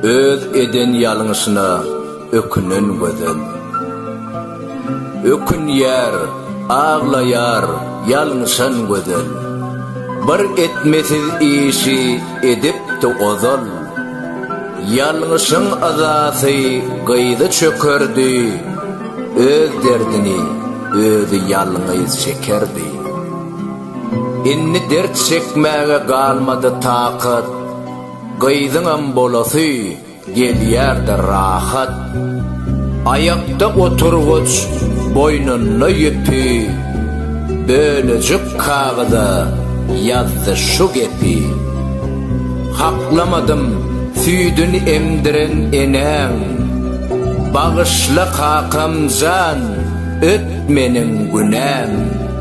Öz eden ýalňyşyna ökünen gözel. Ökünýär, aglaýar ýalňyşan gözel. Bir etmesiz işi edipdi ozal. Ýalňyşyň yzasy gyzy çökerdi, Öz derdini özi ýalňyz çekerdi. Indi dert çekmäge galmady takat, Gyzyňam bolasy gelýär-de rahat. Aýakda oturgyç, boýnunda ýüpi, Bölejik kagyza ýazdy şu gepi, Haklamadym süýdün emdiren enäň, Bagyşla kakam jan, öt meniň günäm.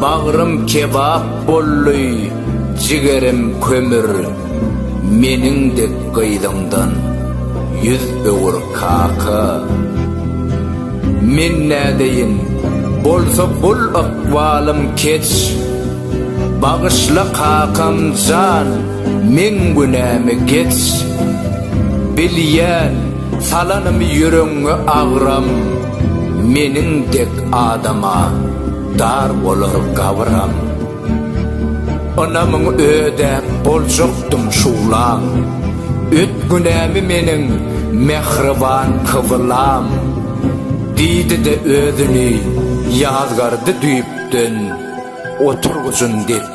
Bagrym kebap boldy, jigerim kömür, Meniň dek gyzyňdan ýüz öwür kaka. Men nädeýin, bolsa bul ykbalym keç, Bagyşla kakam jan, meň günämi geç. Bilýän, salanymy ýüregiňe agram. Meniň dek adama dar bolar gabyram. Ynamyň ödäp boljakdym şuwlam. Öt günämi meniň mähriban kybylam. Diýdi-de özüni ýazgardy düýpden oturgyjyn depdi.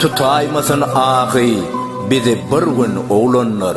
Tutaýmasyn ahy bizi bir gün oglanlar.